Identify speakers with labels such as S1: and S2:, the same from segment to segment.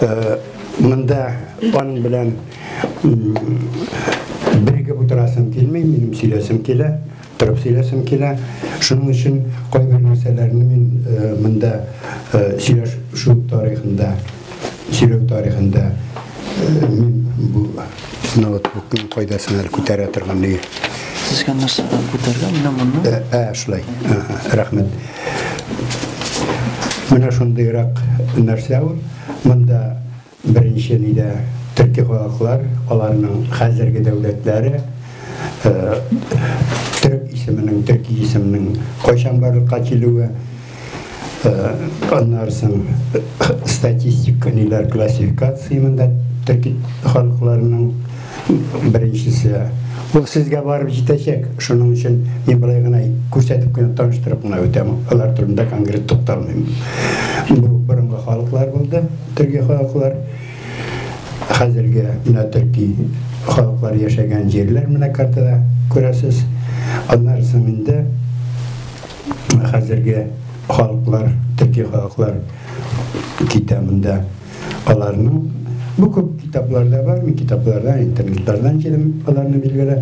S1: Э, мында ан белән бирегеп утырасым килмей, минем сөйләсем килә, торып сөйләсем килә. Шуның өчен кайбер нәрсәләрне мин э, мында э, сөйләшү тарихында, сөйләү тарихында мин бу ноутбукны кайдасына күтәрә торган ди. Сезгә нәрсә
S2: күтәргән, менә монны? Ә, шулай.
S1: Рәхмәт. Менә шундыйрак нәрсә ул. Монда беренче нидә төрки халыклар, аларның хәзерге дәүләтләре, э, төрек исеменең, төрки исемнең кайчан барлыкка килүе, э, аннары соң статистик ниләр, классификация монда төрки халыкларның Беренчесе, ул сезгә барып җитәчәк, шуның өчен мин болай гына күрсәтеп кенә таныштырып гына үтәм, алар турында конкрет тукталмыйм. Бу борынгы халыклар булды, төрки халыклар. Хәзерге менә төрки халыклар яшәгән җирләр менә картада күрәсез. Аннары соң инде хәзерге халыклар, төрки халыклар китә монда. Аларның бу күп китапларда бар, мин китаплардан, интернетлардан җирем аларны билгеле.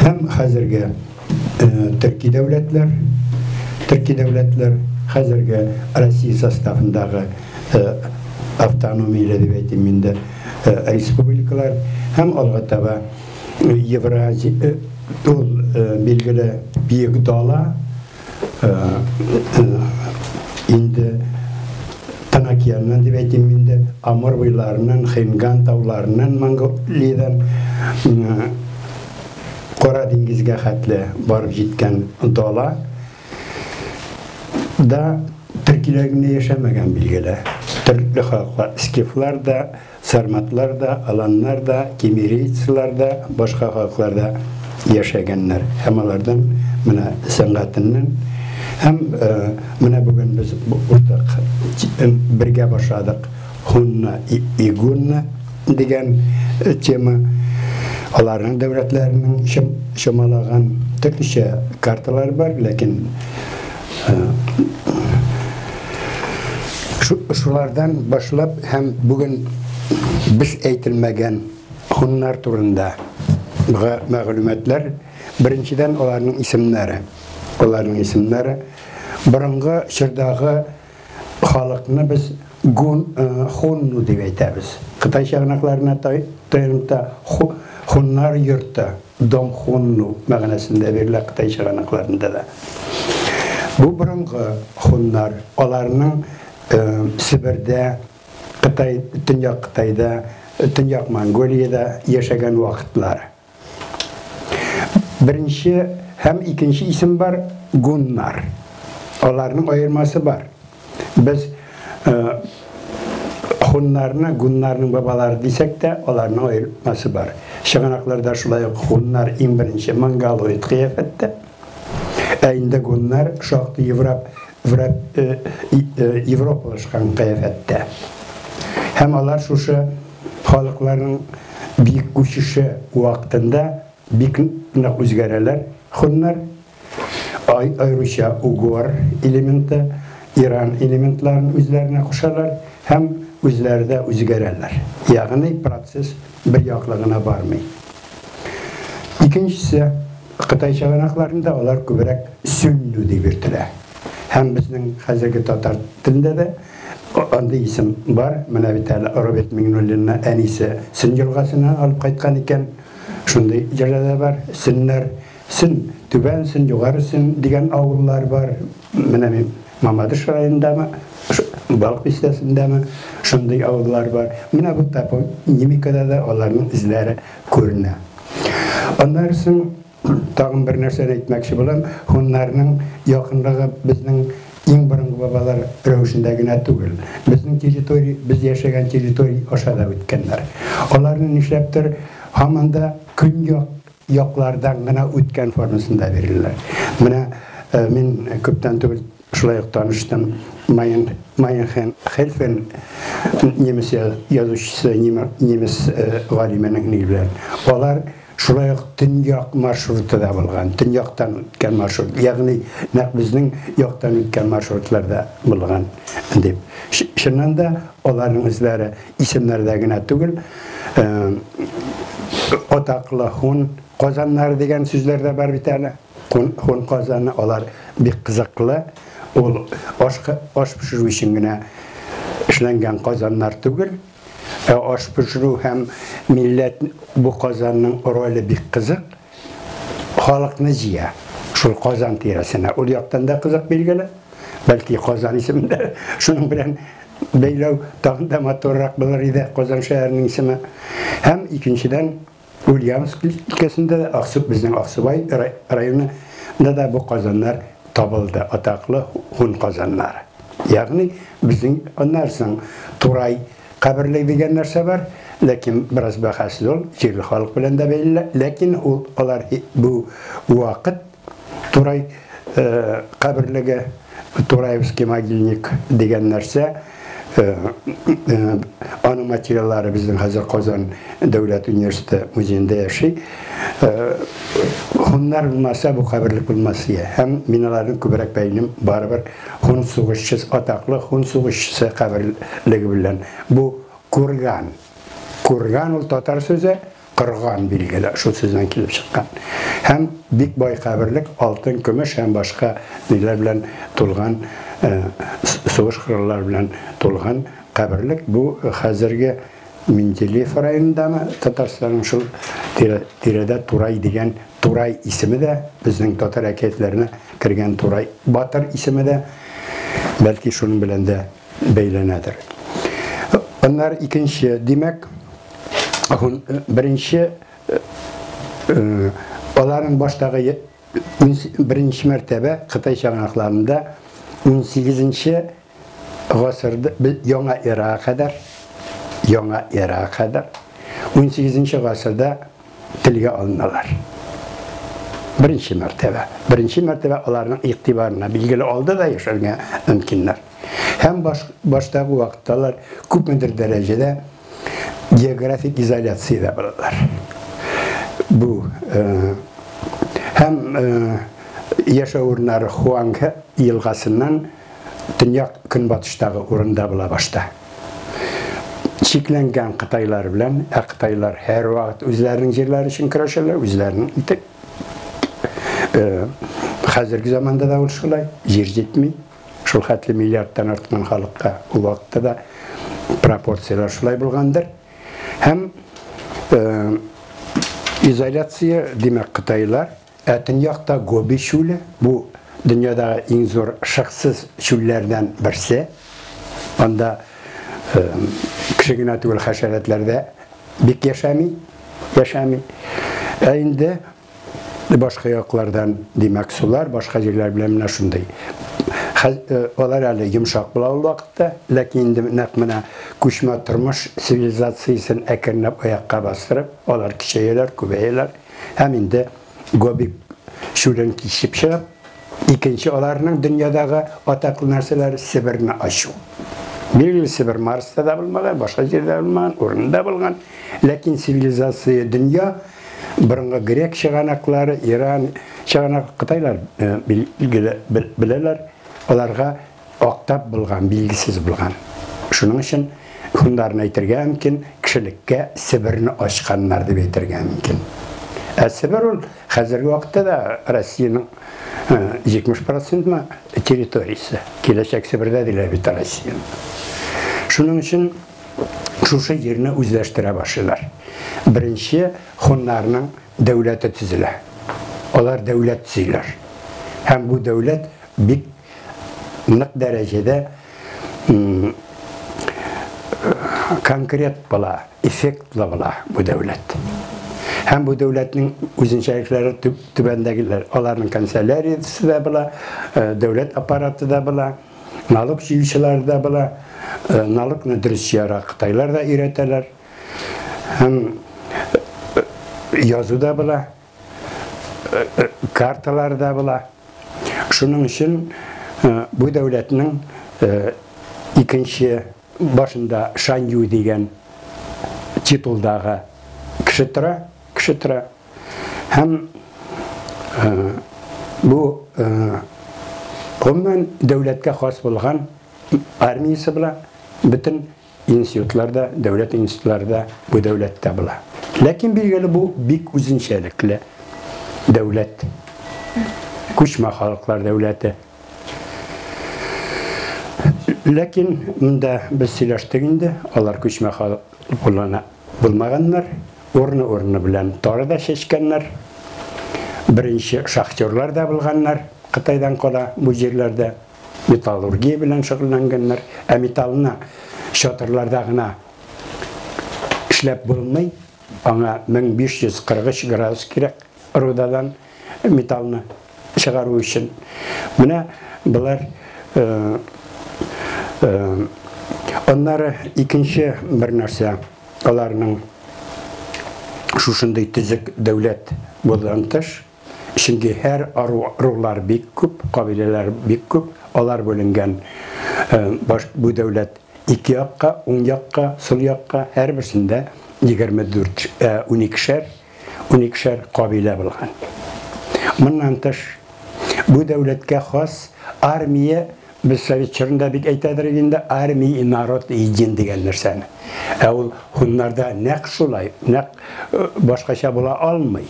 S1: Һәм хәзерге э, төрки дәүләтләр, төрки дәүләтләр хәзерге Россия составындагы э, автономияле дип әйтим инде э, республикалар һәм алга таба Евразия ул билгеле биек дала инде Танакияннан дип әйтим инде, Амур буйларыннан, Хинган тауларыннан, Монголиядән Кара диңгезгә хәтле барып җиткән дала да төркиләр генә яшәмәгән билгеле. Төрле халыклар, скифлар да, Сарматлар да, аланнар да, кимерийцлар да, башка халыклар да яшәгәннәр. Һәм алардан менә сәнгатеннән һәм менә бүген без уртак бергә башладык Хунна и Гунна дигән тема. Аларның дәүләтләренең чамалаган төрлечә карталары бар, ләкин Шулардан башлап һәм бүген без әйтелмәгән хуннар турында мәгълүматлар, беренчедән аларның исемнәре. Аларның исемнәре борынгы чордагы халыкны без гун э, хунну дип әйтәбез. Кытай чыганакларына таянып та хуннар йорты Донгхунну мәгънәсендә бирелә кытай чыганакларында да. Бу борынгы хуннар, аларның Себердә, Кытай, Төньяк Кытайда, Төньяк Монголиядә яшәгән вакытлары. Беренче һәм икенче исем бар, гуннар. Аларның аермасы бар. Без хуннарны, гуннарның бабалары дисәк тә, аларның аермасы бар. Чыганакларда шулай ук хуннар иң беренче монголоид кыяфәттә. Ә инде гуннар шактый Европ, Европалашкан кыяфәттә. Һәм алар шушы халыкларның бик күчеше вакытында бик нык үзгәрәләр хуннар. Ай аеруча угор элементы, иран элементларын үзләренә кушалар һәм үзләре дә үзгәрәләр. Ягъни процесс бер яклы гына бармый. Икенчесе, Кытай чыганакларында алар күбрәк сөннү дип йөртелә. Һәм безнең хәзерге татар телендә дә андый исем бар. Менә бит әле Роберт Миңнуллинны әнисе Сөн елгасыннан алып кайткан икән. Шундый җырда да бар, сөннәр. Сөн, Түбән Сөн, Югары Сөн дигән авыллар бар. Менә мин Мамадыш районындамы, Балык бистәсендәме, шундый авыллар бар. Менә бу топонимикада да аларның эзләре күренә. Аннары соң тагын бер нәрсәне әйтмәкче булам. Хуннарның якынлыгы безнең иң борынгы бабалар рәвешендә генә түгел. Безнең территория, без яшәгән территория аша да үткәннәр. Аларны нишләптер һаман да көньяк яклардан гына үткән формасында бирелә. Менә мин күптән түгел шулай ук таныштым Майен Майенхен Хельфен немец язучысы, немец галименең ни белән. Алар шулай ук төньяк маршруты да булган, төньяктан үткән маршрут, ягъни нәкъ безнең яктан үткән маршрутларда булган дип. Чыннан да аларның эзләре исемнәрдә генә түгел, атаклы һун казаннары дигән сүзләр дә бар бит әле. Һун казаны алар бик кызыклы. Ул аш аш пешерү өчен генә эшләнгән казаннар түгел. Ә аш пешерү һәм милләт бу казанның роле бик кызык. халыкны җыя. Шул Казан тирәсенә. Ул яктан да кызык билгеле. Бәлки Казан исемен дә шуның белән бәйләү тагын да матуррак булыр иде Казан шәһәренең исеме. Һәм икенчедән Ульяновск өлкәсендә дә Аксуб безнең Аксубай районында да бу казаннар табылды, атаклы һун казаннары. Ягъни безнең аннан соң Турай Каберлек дигән нәрсә бар, ләкин бераз бәхәсле ул, җирле халык белән дә бәйле, ләкин ул алар бу вакыт Турай каберлеге, Тураевский могильник дигән нәрсә, аның материаллары безнең хәзер Казан дәүләт университеты музеенда яши. Хуннар булмаса, бу каберлек булмас ия. Һәм мин аларның күбрәк бәйлим, барыбер Һун сугышчысы, атаклы һун сугышчысы каберлеге белән. Бу курган. Курган ул татар сүзе, кырган билгеле, шул сүздән килеп чыккан. Һәм бик бай каберлек, алтын, көмеш һәм башка ниләр белән тулган, сугыш кораллары белән тулган каберлек. Бу хәзерге Менделеев районындамы, Татарстанның шул тирәдә Турай дигән Турай исеме дә, безнең татар әкиятләренә кергән Турай батыр исеме дә, бәлки, шуның белән дә бәйләнәдер. Аннары икенче, димәк, беренче аларның баштагы беренче мәртәбә Кытай чыганакларында 18 нче гасырда, яңа эрага кадәр, яңа эрага кадәр 18 нче гасырда телгә алыналар. Беренче мәртәбә. Беренче мәртәбә аларның игътибарына билгеле алды да яшәргә мөмкиннәр. Һәм баш, баштагы вакытта алар күпмедер дәрәҗәдә географик изоляциядә булалар. Бу э, һәм э, яшәү урыннары Хуанг елгасыннан төньяк-көнбатыштагы урында була башта. Чикләнгән кытайлар белән, ә кытайлар һәрвакыт үзләренең җирләре өчен көрәшәләр, үзләренең итеп. Хәзерге заманда да ул шулай, җир җитми. Шул хәтле миллиардтан арткан халыкка ул вакытта да пропорцияләр шулай булгандыр. Һәм изоляция, димәк, кытайлар Ә төньякта Гоби чүле, бу, дөньядагы иң зур шыксыз чүлләрдән берсе. Анда кеше генә түгел, хәшәрәтләр дә бик яшәми, яшәми. Ә инде башка яклардан, димәк, сулар, башка җирләр белән менә шундый. Алар әле йомшак була ул вакытта, ләкин инде нәкъ менә күчмә тормыш цивилизациясен әкренләп аякка бастырып, алар кичәяләр, күбәяләр. Һәм инде Гобик чүлен кичеп чыгып, икенче аларның дөньядагы атаклы нәрсәләре Себерне ачу. Билгеле Себер Марста да булмаган, башка җирдә булмаган, урында булган, ләкин цивилизация дөнья борынгы грек чыганаклары, Иран чыганак, Кытайлар билгеле беләләр, аларга Актап булган, билгесез булган. Шуның өчен һуннарны әйтергә мөмкин, кешелеккә Себерне ачканнар дип әйтергә мөмкин. Ә Себер ул хәзерге вакытта да Россиянең 70 процентмы территориясе. Киләчәк Себердә диләр бит Россияне. Шуның өчен шушы җирне үзләштерә башлыйлар. Беренче хуннарның дәүләте төзелә. Алар дәүләт төзиләр. Һәм бу дәүләт бик нык дәрәҗәдә конкрет була, эффектлы була бу дәүләт. Һәм бу дәүләтнең үзенчәлекләре түбәндәгеләр. Аларның канцеляриясе дә була, э, дәүләт аппараты да була, налог җыючылар да була, э, налогны дөрес җыярга кытайлар да өйрәтәләр. Һәм э, язу да була. карталары да була. Шуның өчен бу дәүләтнең икенче башында Шанью дигән титулдагы кеше тора, кеше тора. Һәм бу гомумән дәүләткә хас булган армиясе була, бөтен Институтлар да, дәүләт институтлары да бу дәүләттә була. Ләкин билгеле бу бик үзенчәлекле дәүләт. Күчмә халыклар дәүләте. Ләкин монда без сөйләштек инде, алар күчмә халык булана булмаганнар, урыны-урыны белән тары да чәчкәннәр. Беренче шахтерлар да булганнар Кытайдан кала бу җирләрдә. металлургия белән шөгыльләнгәннәр, ә металлны чатырларда гына эшләп булмый, аңа 1543 градус кирәк рудадан металлны чыгару өчен. Менә болар э, э, аннары икенче бер нәрсә аларның шушындый төзек дәүләт булган тыш Чөнки һәр рулар бик күп, кабиләләр бик күп, алар бүленгән. Бу дәүләт ике якка, уң якка, сул якка, һәрберсендә 24 уникешәр, уникешәр кабилә булган. Моннан тыш, бу дәүләткә хас армия, без совет чорында бик әйтәдер иде инде, армия и народ един дигән нәрсәне. Ә ул һуннарда нәкъ шулай, нәкъ башкача була алмый.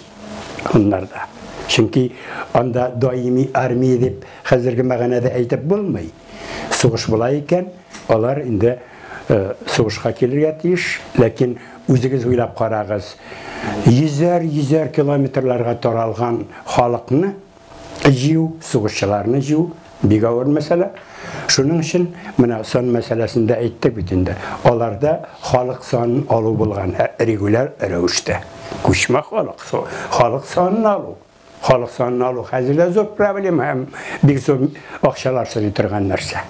S1: Аннарда. Чөнки анда даими армия дип хәзерге мәгънәдә әйтеп булмый. Сугыш була икән, алар инде э, сугышка килергә тиеш, ләкин үзегез уйлап карагыз. Йөзәр, йөзәр километрларга таралган халыкны җыю, сугышчыларны җыю бик авыр мәсьәлә. Шуның өчен менә сон мәсьәләсендә әйттек бит инде. Аларда халык санын алу булган ә регуляр рәвештә. Күчмә халык, халык санын алу. Халык санын алу хәзер дә зур проблема һәм бик зур акчалар сорый торган нәрсә.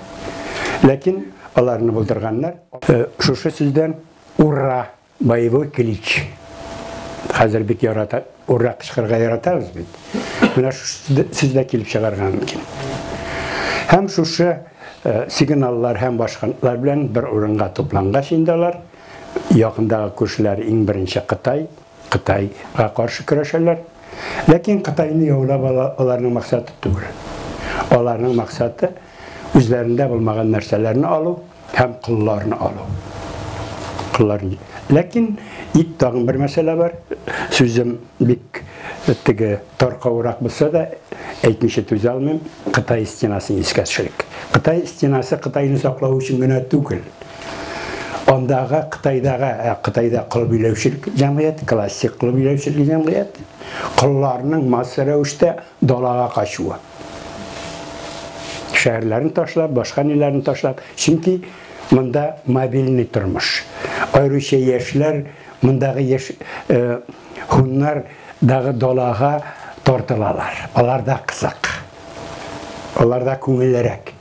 S1: Ләкин аларны булдырганнар. Э, шушы сүздән ура! Боевой клич. Хәзер бит ярата, ура кычкырырга яратабыз бит. Менә шушы сездә килеп чыгарган микән? Һәм шушы э, сигналлар һәм башкалар белән бер урынга туплангач инде алар якындагы күршеләр иң беренче Кытай, Кытайга каршы көрәшәләр. Ләкин Кытайны яулап ала аларның максаты түгел. Аларның максаты үзләрендә булмаган нәрсәләрне алу, Һәм кылларны алу. Кыллар. Ләкин ит тагын бер мәсьәлә бар. Сүзем бик теге таркаурак булса да, әйтмичә түзә алмыйм. Кытай стенасын искә төшерик. Кытай стенасы Кытайны саклау өчен генә түгел. Андагы Кытайдагы, ә Кытайда кыл биләүчелек җәмгыять, классик кыл биләүчелек җәмгыять, кылларның масса рәвештә Далага качуы. Шәһәрләрен ташлап, башка ниләрен ташлап, чөнки монда мобильный тормыш. Аеруча яшьләр, мондагы яшь һуннар дагы далага тартылалар. Аларда кызык. Аларда күңеллерәк.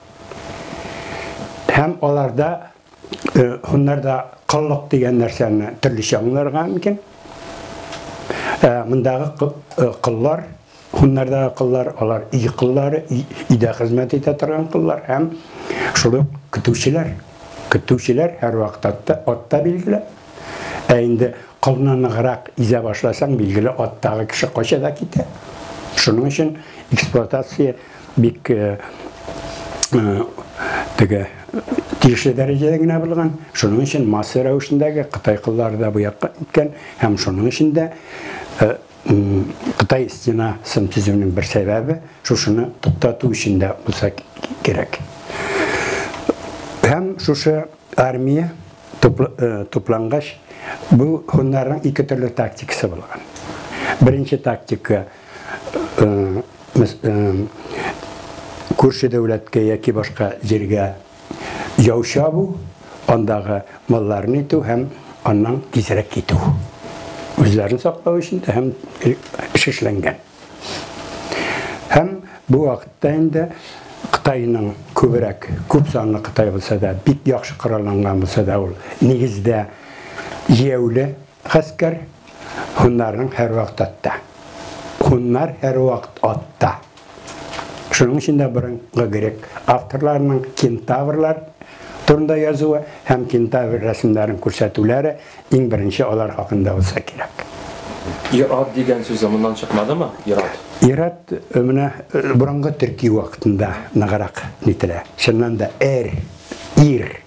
S1: Һәм аларда Э, Хуннарда коллык дигән нәрсәне төрлечә аңларга мөмкин. Э, Мондагы э, коллар, хуннардагы коллар, алар ий коллары, өйдә хезмәт итә торган коллар һәм шул ук көтүчеләр. Көтүчеләр һәр вакыт атта, атта билгеле. Ә инде колны ныграк изә башласаң, билгеле аттагы кеше кача да китә. Шуның өчен эксплуатация бик теге тиешле дәрәҗәдә генә булган. Шуның өчен масса рәвешендәге Кытай кыллары да бу якка киткән һәм шуның өчен дә Кытай стенасын төзүнең бер сәбәбе шушыны туктату өчен дә булса кирәк. Һәм шушы армия туплангач, бу хуннарның ике төрле тактикасы булган. Беренче тактика күрше дәүләткә яки башка җиргә яу чабу, андагы малларны итү һәм аннан тизрәк китү. Үзләрен саклау өчен дә һәм шишләнгән. Һәм бу вакытта инде Кытайның күбрәк, күп санлы Кытай булса да, бик яхшы коралланган булса да, ул нигездә җияүле Гаскәр һуннарның һәрвакыт атта. Һуннар һәрвакыт атта. Шуның өчен дә борынгы грек авторларының кентаврлар турында язуы һәм кентавр рәсемнәрен күрсәтүләре иң беренче алар хакында булса кирәк.
S3: Ир-ат дигән сүзе моннан чыкмадымы? Ир-ат. Ир-ат
S1: менә борынгы төрки вакытында ныграк нителә. Чыннан да, эр, ир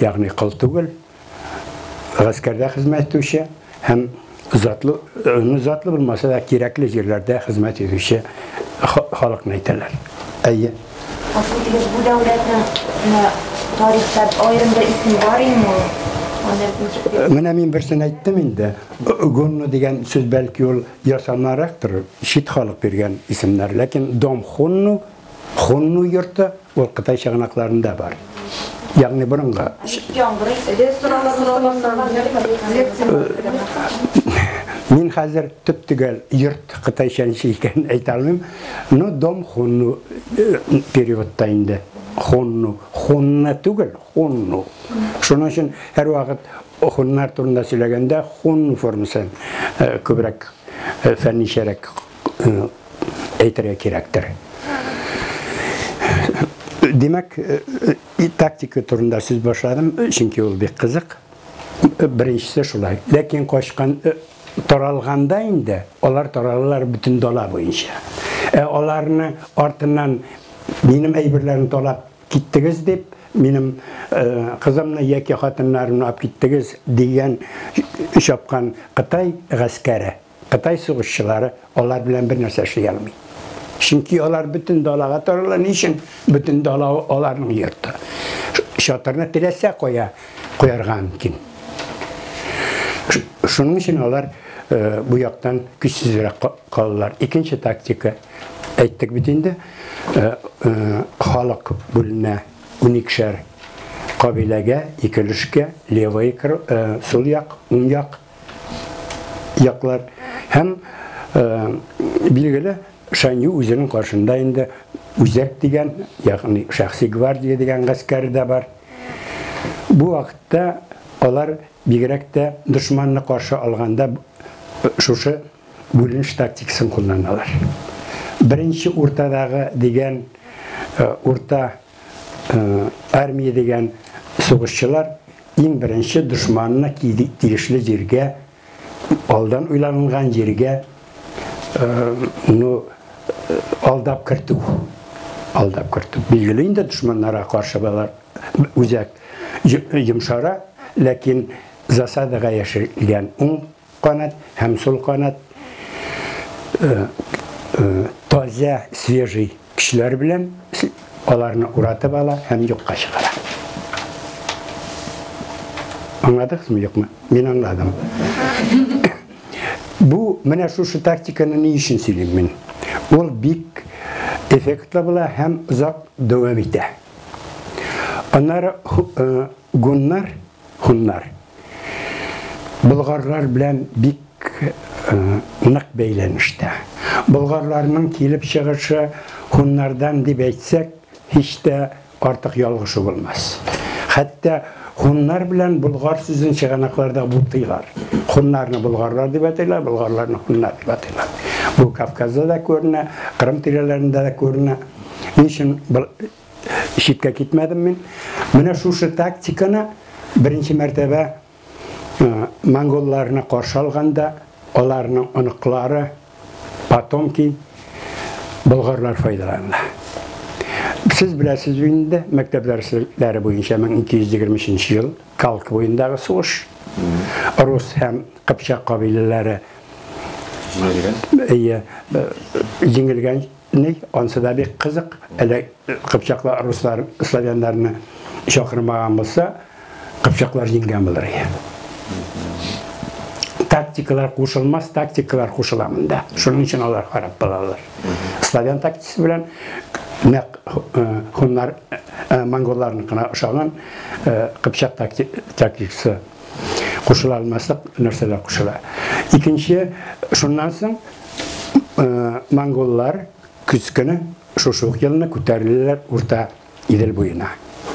S1: ягъни кол түгел, гаскәрдә хезмәт итүче һәм затлы, ну, затлы булмаса да кирәкле җирләрдә хезмәт итүче халыкны әйтәләр. Әйе. Гафу итегез, бу дәүләтнең
S4: тарихта аерым бер исеме бар инде.
S1: Менә мин берсен әйттем инде. Гонно дигән сүз бәлки ул ясамарактыр, чит халык биргән исемнәр, ләкин Дом Хонно Хунну йорты ул Кытай чыганакларында бар. Ягъни борынгы. Мин хәзер төп төгәл йорт кытайча ничек икәнен әйтә алмыйм. Ну, дом хунну э, переводта инде. Хунну. Хунна түгел, хунну. Шуның өчен һәр вакыт хуннар турында сөйләгәндә хунну формасын э, күбрәк э, фәнничәрәк әйтергә кирәктер. Димәк, э, э, тактика турында сүз башладым, чөнки ул бик кызык. Беренчесе шулай. Ләкин качкан э, таралганда инде алар таралалар бөтен дала буенча. Ә аларны артыннан минем әйберләрен талап киттегез дип, минем э, кызымны яки хатыннарымны алып киттегез дигән чапкан Кытай гаскәре Кытай сугышчылары алар белән бер нәрсә эшли алмый. Чөнки алар бөтен далага тарала, ни өчен? Бөтен дала аларның йорты. Чатырны теләсә кая куярга мөмкин. Шуның өчен алар э, бу яктан көчсезрәк калалар. Икенче тактика әйттек бит инде, э, э, халык бүленә уникшәр кабиләгә, икелешкә, левый, сул як, уң як яклар һәм билгеле Шанью үзенең каршында инде үзәк дигән, ягъни шәхси гвардия дигән гаскәр дә бар. Бу вакытта алар бигрәк тә дошманны каршы алганда шушы бүленеш тактикасын кулланалар. Беренче уртадагы дигән урта армия дигән сугышчылар иң беренче дошманына тиешле җиргә, алдан уйланылган җиргә ну алдап кертү. Алдап кертү. Билгеле инде дошманнарга каршы балар үзәк йомшара, ләкин засадага яшергән уң канат һәм сул канат таза, свежий көчләр белән аларны уратып ала һәм юкка чыгара. Аңладыгызмы, юкмы? Мин аңладым. Бу менә шушы тактиканы ни өчен сөйлим мин? Ул бик эффектлы була һәм озак дәвам итә. Аннары гуннар Һуннар. Болгарлар белән бик нык бәйләнештә. Болгарларның килеп чыгышы һуннардан дип әйтсәк, һич тә артык ялгышу булмас. Хәтта һуннар белән болгар сүзен чыганакларда бутыйлар. Һуннарны болгарлар дип әйтәләр, болгарларны һуннар дип әйтәләр. Бу Кавказда да күренә, Кырым тирәләрендә дә күренә. Ничем читкә китмәдем мин. Менә шушы тактиканы беренче мәртәбә монголларны каршы алганда аларның оныклары, потомки болгарлар файдаланды. Сез беләсез инде, мәктәп дәресләре буенча 1223 ел Калк буендагы сугыш. Рус һәм Кыпчак кабиләләре җиңелгән. Җиңелгән Ни, ансы да бик кызык, әле кыпчаклар руслар славяннарны чакырмаган булса, кыпчаклар җиңгән булыр иде. Тактикалар кушылмас, тактикалар кушыла монда. Шуның өчен алар харап булалар. Славян тактикасы белән нәкъ э, хуннар э, э, монголларның гына ошаган кыпчак тактикасы кушыла алмаслык нәрсәләр кушыла. Икенче, шуннан соң э, монголлар көз көне шушы ук елны күтәрелделәр урта Идел буена,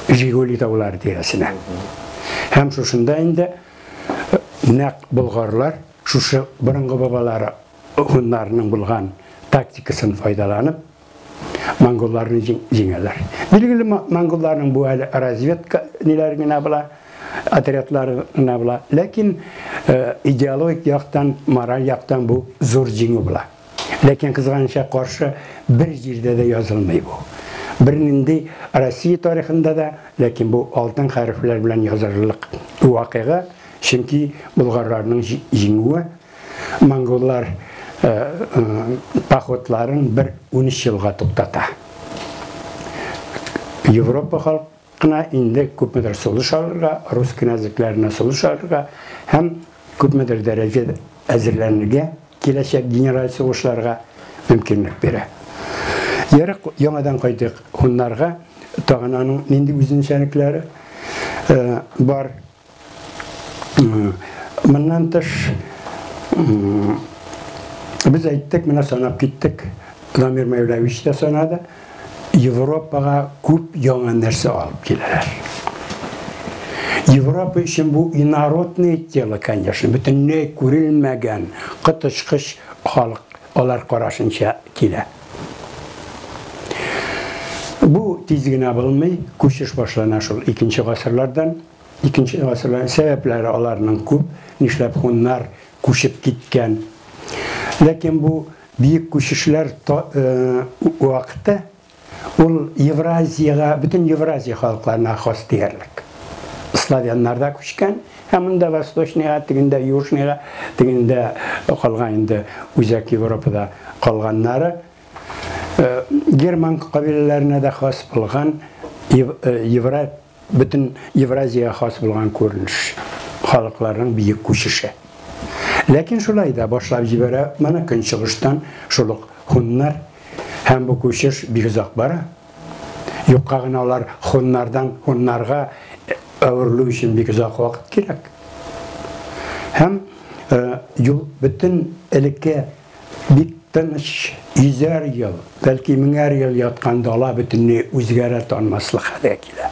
S1: Жигули таулары тирәсенә. Һәм шушында инде э, нәк болгарлар шушы борынгы бабалары хуннарның булган тактикасын файдаланып, монголларны җиңәләр. Билгеле монголларның бу әле разведка ниләр генә була, отрядлар гына була. Ләкин э, идеологик яктан, мораль яктан бу зур җиңү була. Ләкин кызганыча каршы бер җирдә дә язылмый бу. Бернинди Россия тарихында да, ләкин бу алтын хәрефләр белән язылырлык вакыйга, чөнки болгарларның җиңүе Монголлар походларын бер 13 елга туктата. Европа халкы кына инде күпмедер сулыш алырга, рус кенәзлекләренә сулыш алырга һәм күпмедер дәрәҗә әзерләнергә киләчәк генераль сугышларга мөмкинлек бирә. Ярык, яңадан кайтыйк хуннарга, тагын аның нинди үзенчәлекләре бар. Моннан тыш без әйттек, менә санап киттек. Дамир Мәүләвич тә санады. Европага күп яңа нәрсә алып киләләр. Европа өчен бу инородное тело, конечно, бөтенләй күрелмәгән коточкыч халык Алар карашынча килә. Бу тиз генә булмый, күчеш башлана шул икенче гасырлардан. Икенче гасырлар сәбәпләре аларның күп, нишләп һуннар күчеп киткән. Ләкин бу бөек күчешләр вакыты Ул Евразиягә, бөтен Евразия халыкларына хас диярлек. Славяннар да күчкән, һәм монда Восточныйга, тегендә Южныйга, тегендә калган инде үзәк Европада калганнары, герман кабиләләренә дә хас булган Евра Бөтен Евразиягә хас булган күренеш, халыкларның бөек күчеше. Ләкин шулай да башлап җибәрә моны көнчыгыштан шул ук һуннар, һәм бу күчеш бик озак бара. Юкка гына алар һуннардан һуннарга әверелү өчен бик озак вакыт кирәк. Һәм юл бөтен элекке Бик тыныч, йөзәр ел, бәлки меңәр ел яткан дала бөтенләй үзгәрә танмаслык хәлгә килә.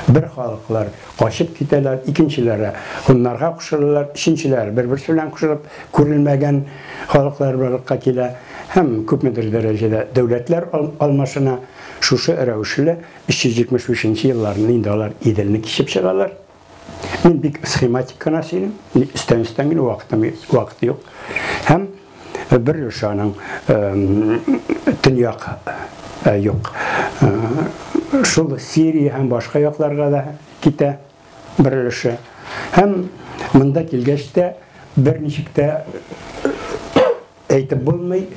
S1: Бер халыклар качып китәләр, икенчеләре һуннарга кушылалар, өченчеләре бер-берсе белән кушылып күрелмәгән халыклар барлыкка килә һәм күпмедер дәрәҗәдә дәүләтләр алмашына. Шушы рәвешле 375 нче елларны инде алар Иделне кичеп чыгалар. Мин бик схематик кына сөйлим, өстән өстән генә вакытым вакыт юк. Һәм бер өлеше аның төньяк юк. Шул Сирия һәм башка якларга да китә бер өлеше. Һәм монда килгәч тә берничек тә Әйтеп булмый,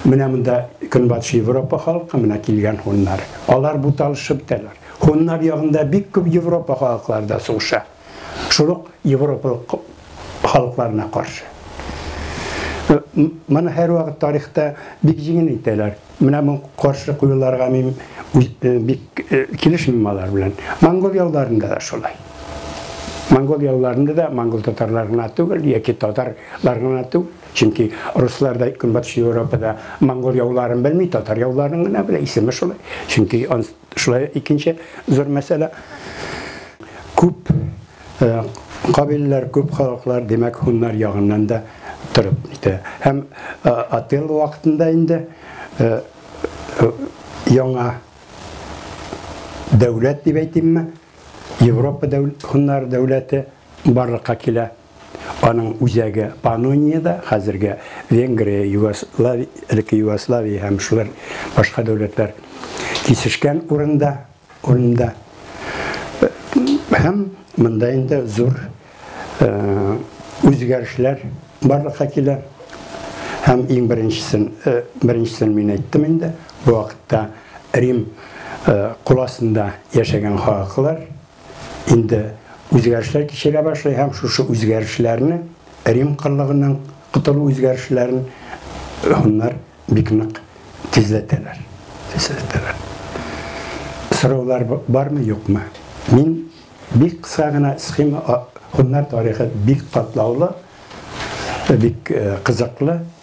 S1: менә монда Көнбатыш Европа халкы менә килгән һуннар. Алар буталышып бетәләр. Һуннар ягында бик күп Европа халыклары да сугыша. Шул ук европалык халыкларына каршы. Моны һәрвакыт тарихта бик җиңел әйтәләр. Менә бу каршы куюларга мин бик килешмим алар белән. Монгол ялларында да шулай. Монгол ялларында да монгол татарлар гына түгел, яки татарлар гына түгел. Чөнки руслар да Көнбатыш Европада монгол яуларын белми, татар яуларын гына белә, исеме шулай. Чөнки шулай икенче зур мәсьәлә. Күп э, кабиләләр, күп халыклар, димәк, һуннар ягыннан да торып китә. Һәм э, Ател вакытында инде э, яңа дәүләт дип әйтимме, Европа дәүләт, һуннар дәүләте барлыкка килә. Аның үзәге Панониядә, хәзерге Венгрия, Югославия, элекке Югославия һәм шулар башка дәүләтләр кисешкән урында, урында. Һәм монда инде зур үзгәрешләр барлыкка килә. Һәм иң беренчесен, беренчесен мин әйттем инде, бу вакытта Рим кул астында яшәгән халыклар, инде үзгәрешләр кичерә башлый һәм шушы үзгәрешләрне Рим кырлыгыннан котылу үзгәрешләрен хуннар бик нык тизләтәләр. Тизләтәләр. Сораулар бармы, юкмы? Мин бик кыска гына схема хуннар тарихы бик катлаулы, бик э, кызыклы.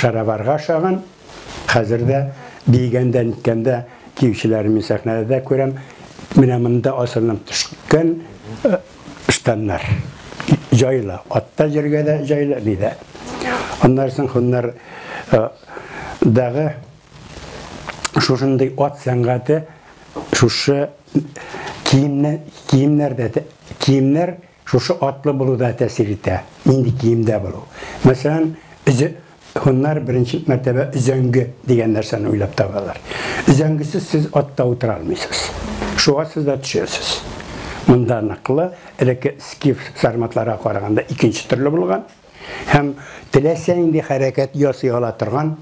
S1: Шароварга ошаган, хәзер дә биегәндә, ниткәндә киючеләрен мин сәхнәдә дә күрәм. Менә монда асылынып төшкән э, штаннар. Җайлы, атта җиргә дә җайлы, ни дә. Аннан соң хуннар э, дагы шушындый ат сәнгате шушы киемнәр, киемнәрдә, киемнәр Шушы атлы булу да тәэсир итә, нинди киемдә булу. Мәсәлән, өзә һуннар беренче мәртәбә өзәңге дигән нәрсәне уйлап табалар. Өзәңгесез сез атта утыра алмыйсыз. Шуга сез дә төшәсез. Монда ныклы, элекке скиф сарматларга караганда икенче төрле булган һәм теләсә нинди хәрәкәт ясый ала торган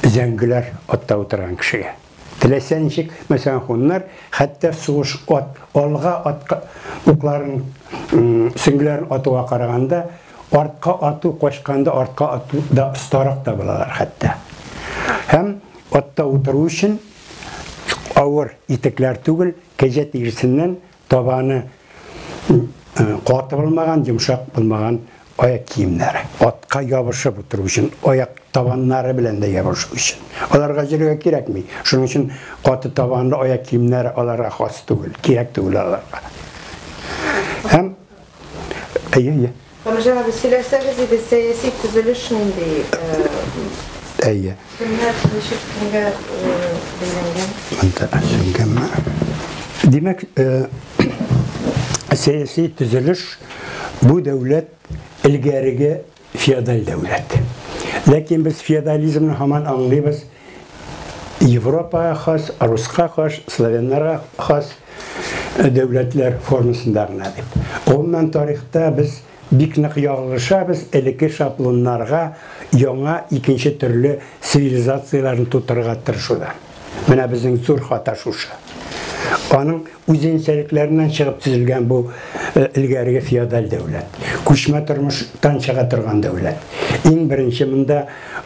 S1: зәңгеләр атта утырган кешегә. Теләсә ничек, мәсәлән, хуннар хәтта сугыш ат, алга ат укларын, сөңгеләрен атуга караганда, артка ату, качканда артка ату да остарак та булалар хәтта. Һәм атта утыру өчен авыр итекләр түгел, кәҗә тиресеннән Табаны каты булмаган, йомшак булмаган аяк киемнәре. Атка ябышып утыру өчен, аяк табаннары белән дә ябышу өчен. Аларга җөргә кирәкми. Шуның өчен каты табанлы аяк киемнәре аларга хас түгел, кирәк түгел аларга. Һәм әйе, әйе. Камил
S5: абый, сөйләсәгез иде, сәяси
S1: төзелеш нинди? Әйе. Кемнәр ничек кемгә бәйләнгән? Монда әзерләнгәнме? Димәк, сәяси төзелеш бу дәүләт элгәреге феодаль дәүләт. Ләкин без феодализмны һаман аңлыйбыз. Европага хас, руска хас, славяннарга хас дәүләтләр формасында гына дип. Гомумән тарихта без бик нык ягылышабыз элекке шаблоннарга яңа икенче төрле цивилизацияләрне тутырырга тырышуда. Менә безнең зур хата шушы. Аның үзенчәлекләреннән чыгып төзелгән бу э, элгәреге феодаль дәүләт. Күчмә тормыштан чыга торган дәүләт. Иң беренче монда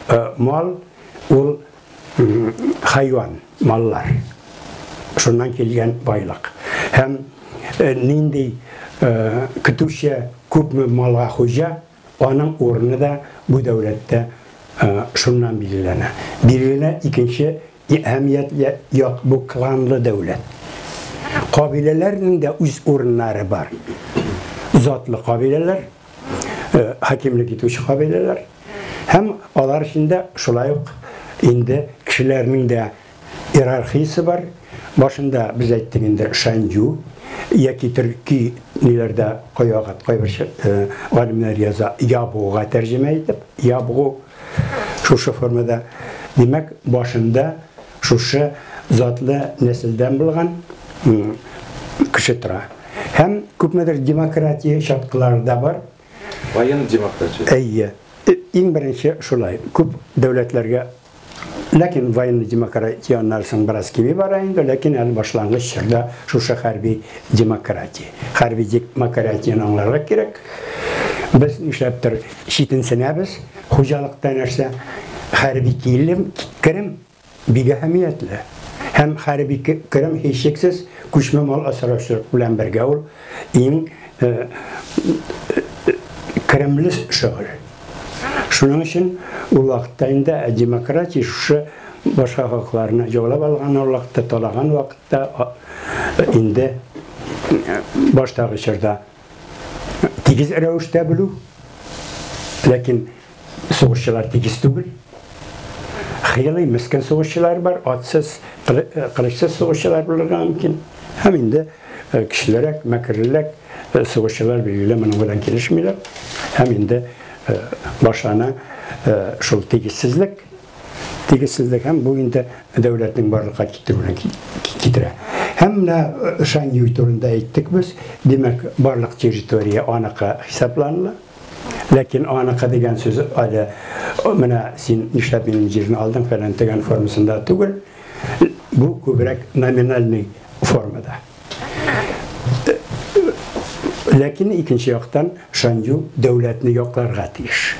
S1: э, мал Ул хайван, маллар. Шуннан килгән байлык. Һәм э, нинди э, көтүче күпме малга хуҗа, аның урыны да бу дәүләттә э, шуннан билгеләнә. Билгеләнә икенче әһәмиятле як бу кланлы дәүләт. Кабиләләрнең дә үз урыннары бар. Затлы кабиләләр, хакимлек итүче кабиләләр һәм алар эчендә шулай ук инде кешеләрнең дә иерархиясе бар. Башында без әйттек инде Шанью яки төрки ниләрдә кайвакыт кайбер галимнәр яза ябуга тәрҗемә итеп, ябгу шушы формада. Димәк, башында Шушы затлы нәселдән булган кеше тора. Һәм күпмедер демократия чаткылары да бар. Кайын
S3: демократия. Әйе.
S1: Иң беренче шулай. Күп дәүләтләргә Ләкин военный демократия аннары соң бераз кими бара инде, ләкин әле башлангыч чорда шушы хәрби демократия. Хәрби демократияне аңларга кирәк. Без нишләптер Читенсенәбез, хуҗалыкта нәрсә, хәрби килем, керем бик әһәмиятле. Һәм хәрби керем һичшиксез күчмә мал асраучылык белән бергә ул иң керемле шөгыль. Шуның өчен ул вакытта инде демократия шушы башка халыкларны яулап алган вакытта, талаган вакытта инде баштагы чорда тигез рәвештә белү, ләкин сугышчылар тигез түгел. Хыялый мескен сугышчылар бар, атсыз, кылычсыз сугышчылар булырга мөмкин. Һәм инде э, кешелерәк, мәкерлерәк э, сугышчылар билгеле моның белән килешмиләр. Һәм инде э, башлана шул тигезсезлек, Тигезсезлек һәм бу инде дәүләтнең барлыкка китерүенә китерә. Һәм менә Шаньюй турында әйттек без. Димәк, барлык территория аныкы хисапланыла. Ләкин аныкы дигән сүз әле менә син нишләп минем җирне алдың фәлән дигән формасында түгел. Бу күбрәк номинальный формада. Ләкин икенче яктан Шанью дәүләтне якларга тиеш.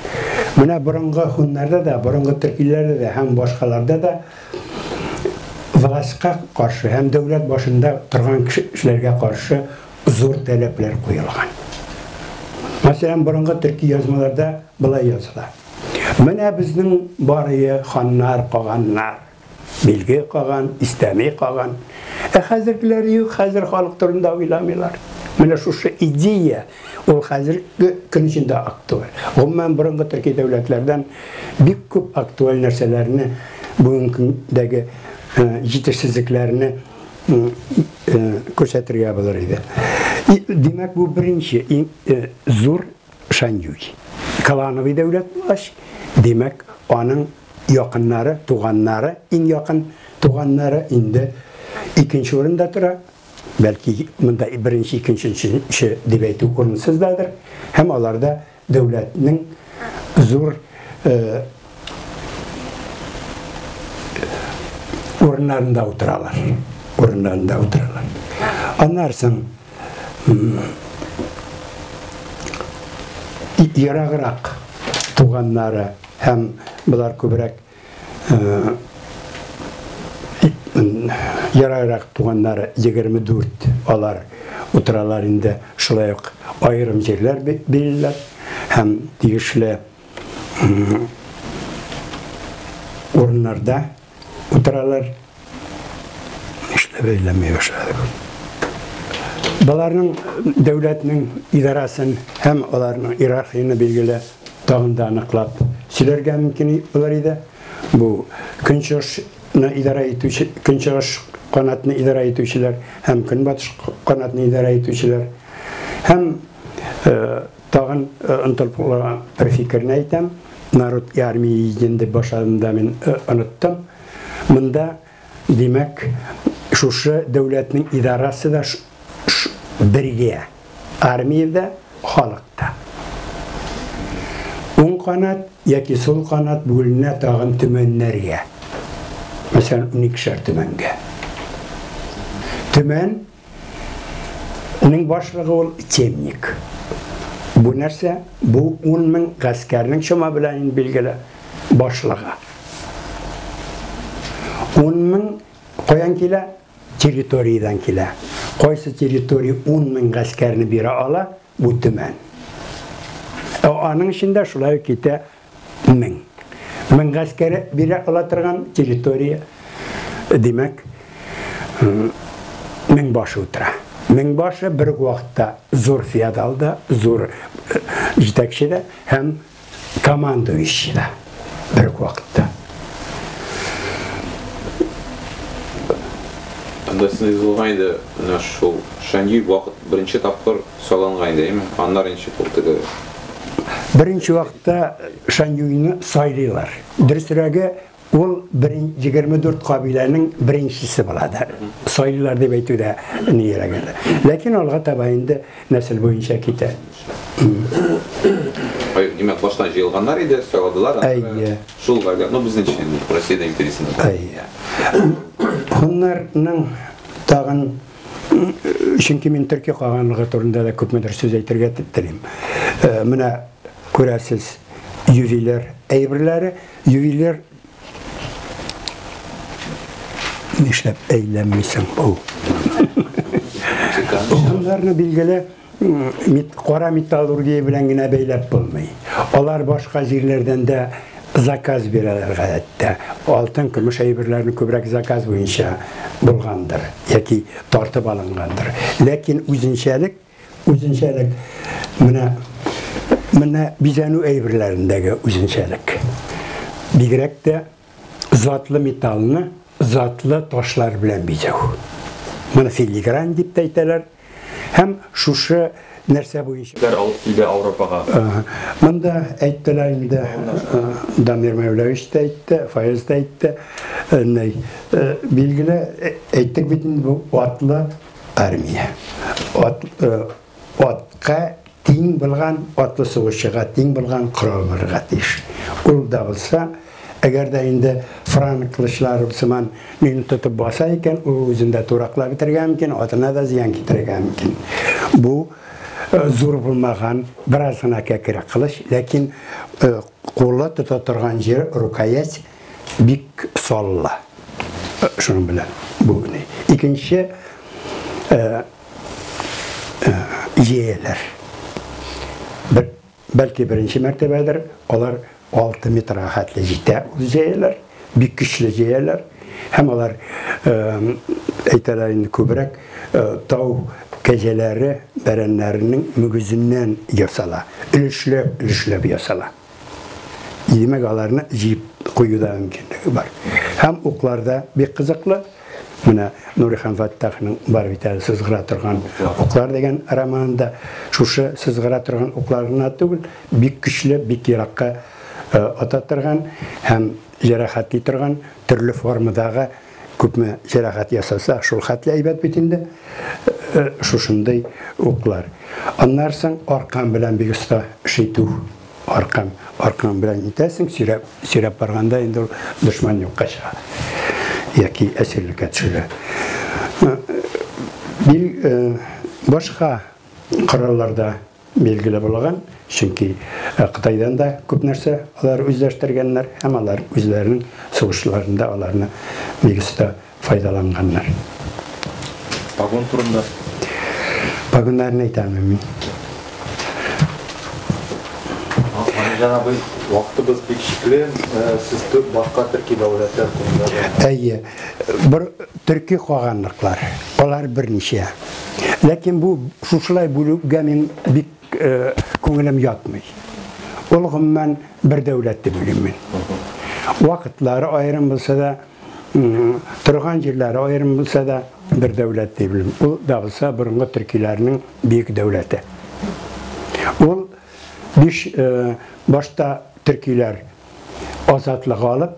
S1: Менә борынгы хуннарда да, борынгы төркиләрдә дә һәм башкаларда да властька каршы һәм дәүләт башында торган кешеләргә каршы зур таләпләр куелган. Мәсәлән, борынгы төрки язмаларда былай языла. Менә безнең барые ханнар, каганнар. Билге каган, истәми каган. Ә хәзергеләр юк, хәзер халык турында уйламыйлар. Менә шушы идея ул хәзерге көн эчендә актуаль. Гомумән, борынгы төрки дәүләтләрдән бик күп актуаль нәрсәләрне бүгенге көндәге җитешсезлекләрне күрсәтергә булыр иде. Димәк, бу беренче зур Шаньюй. Клановый дәүләт булгач, димәк, аның якыннары, туганнары, иң якын туганнары инде икенче урында тора. Бәлки, монда беренче, икенче, өченче дип әйтү урынсыз дадыр. Һәм аларда дәүләтнең зур э, урыннарында утыралар. Урыннарында утыралар. Аннан соң ераграк туганнары һәм болар күбрәк э, ярайрак туганнары 24 алар утыралар инде шулай ук аерым җирләр биреләр һәм тиешле урыннарда утыралар. Эшләп әйләмәй башлады. Баларның дәүләтнең идарасын һәм аларның иерархияны билгеле тагын да аныклап сөйләргә мөмкин булыр иде. Бу көнчыгышны идарә итүче, көнчыгыш канатны идарә итүчеләр һәм көнбатыш канатны идарә итүчеләр һәм э, Тагын онтылып калган бер фикерне әйтәм. Народ и армия един дип башладымда мин оныттым. Монда, димәк, шушы дәүләтнең идарасы да бергә. Армия дә, халык та. Уң канат яки сул канат бүленә тагын төмәннәргә. Мәсәлән, уникешәр төмәнгә. Төмән Аның башлыгы ул темник. Бу нәрсә? Бу 10 мең гаскәрнең чама белән ин билгеле башлыгы. 10 мең каян килә? Территориядән килә. Кайсы территория 10 мең гаскәрне бирә ала? Бу төмән. Ә аның эчендә шулай китә Мең. Мең гаскәре бирә ала торган территория, димәк, мең башы утыра. Мең башы бер үк вакытта зур феодал да, зур җитәкче дә һәм командующий да бер үк вакытта. Анда
S3: сез юзылган иде, менә шул Шаньюй вакыт беренче тапкыр Салонга инде, әйме? Аннары ничек ул теге?
S1: Беренче вакытта Шаньюйны сайлыйлар. Дөресрәге, ул 24 кабиләнең беренчесе була да. Сайлыйлар дип әйтү дә ниерәк әле. Ләкин алга таба инде нәсел буенча китә.
S3: Ай, димәк, баштан җыелганнар иде, сайладылар. Әйе. Шул лагерь, ну безнеңчә инде, Россиядә империясендә. Әйе.
S1: Хуннарның тагын Чөнки мин төрки каганлыгы турында да күпмедер сүз әйтергә телим. Э, менә күрәсез, ювелир әйберләре, ювелир нишләп әйләнмисең ул? Шунларны билгеле кара металлургия белән генә бәйләп булмый. Алар башка җирләрдән дә заказ бирәләр гадәттә. Алтын, көмеш әйберләрне күбрәк заказ буенча булгандыр яки тартып алынгандыр. Ләкин үзенчәлек, үзенчәлек менә менә бизәнү әйберләрендәге үзенчәлек. Бигрәк тә затлы металлны затлы ташлар белән бизәү. Моны филигрань дип тә әйтәләр. Һәм шушы нәрсә буенча Кәр алып килде Ауропага.
S6: Монда
S1: әйттеләр инде Дамир Мәүләвич тә әйтте, Фаяз да әйтте. Нәй, билгеле әйттек бит инде бу атлы армия. Ат Атка тиң булган, атлы сугышчыга тиң булган корал булырга тиеш. Ул да булса, әгәр дә инде франк кылычлары сыман мине тотып баса икән, ул үзен дә тураклап бетергә мөмкин, атына да зыян китерергә мөмкин. Бу зур булмаган, бераз гына кәкре кылыч, ләкин кулы тота торган җир, рукоять бик саллы. Шуның белән бу. Икенче идеяләр. Бер, бәлки беренче мәртәбәдер, алар 6 метрга хәтле җитә ул идеяләр, бик көчле идеяләр. Һәм алар әйтәләр инде күбрәк тау кәҗәләре, бәрәннәренең мөгезеннән ясала. Өлешләп, өлешләп ясала. И демәк, аларны җыеп кую да мөмкинлеге бар. Һәм укларда бик кызыклы. Менә Нурихан Фаттахның бар бит әле сызгыра торган уклар дигән романында шушы сызгыра торган уклар гына түгел, бик көчле, бик еракка э, ата торган һәм җәрәхәтли торган төрле формадагы Күпме җәрәхәт ясаса, шул хәтле әйбәт бит инде шушындый уклар. Аннары соң аркан белән бик оста шитү. Аркан, аркан белән итәсең, сөйрәп, сөйрәп барганда инде ул дошман юкка чыга. Яки әсирлеккә төшелә. Бил башка коралларда Билгеле булган, чөнки Кытайдан да күп нәрсә алар үзләштергәннәр һәм алар үзләренең сугышларында аларны бик оста файдаланганнар.
S6: Погон турында?
S1: Погоннарны әйтә алмыйм мин. Галимҗан
S6: абый, вакытыбыз бик чикле, сез башка төрки дәүләтләр турында да. Әйе.
S1: Бер төрки каганлыклар, алар берничә. Ләкин бу шушылай бүлүгә мин бик күңелем ятмый. Ул гомумән бер дәүләт дип уйлыйм мин. Вакытлары аерым булса да, торган җирләре аерым булса да, бер дәүләт дип уйлыйм. Ул да булса борынгы төркиләрнең бөек дәүләте. Ул биш башта төркиләр азатлык алып,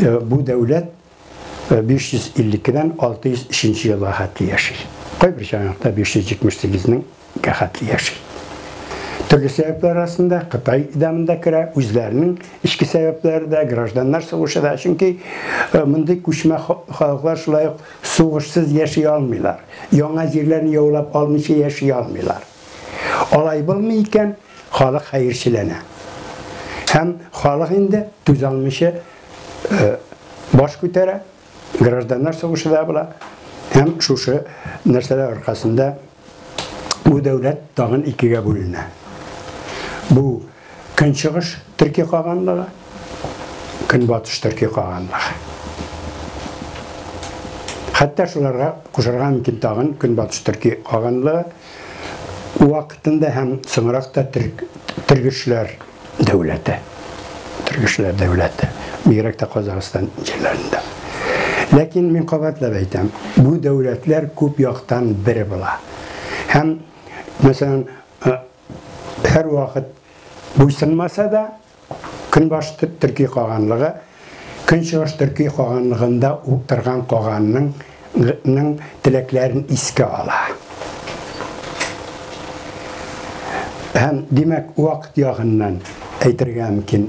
S1: Э, бу дәүләт 552-дән э, 603 елга хәтле яши. Кайбер чанакта 578-нең хәтле яши. Төрле сәбәпләр арасында Кытай идамында керә, үзләренең эчке сәбәпләре дә, гражданнар сугышы да, чөнки э, мондый күчмә халыклар шулай ук сугышсыз яши алмыйлар. Яңа җирләрне яулап алмыйча яши алмыйлар. Алай булмый икән, Халык хәерчеләнә. Һәм халык инде түзалмыйча баш күтәрә, гражданнар сугышы да була. Һәм шушы нәрсәләр аркасында бу дәүләт тагын икегә бүленә. Бу көнчыгыш төрки каганлыгы, көнбатыш төрки каганлыгы. Хәтта шуларга кушарга мөмкин тагын көнбатыш төрки каганлыгы. вакытында һәм соңрак та Тергешләр дәүләте, Тергешләр дәүләте, бигрәк тә Казахстан җирләрендә. Ләкин мин кабатлап әйтәм, бу дәүләтләр күп яктан бер була. Һәм, мәсәлән, һәрвакыт буйсынмаса да, Көнбаш төрки каганлыгы, Көнчыгыш төрки каганлыгында уктырган каганның ның теләкләрен искә ала. Һәм, димәк, вакыт ягыннан әйтергә мөмкин,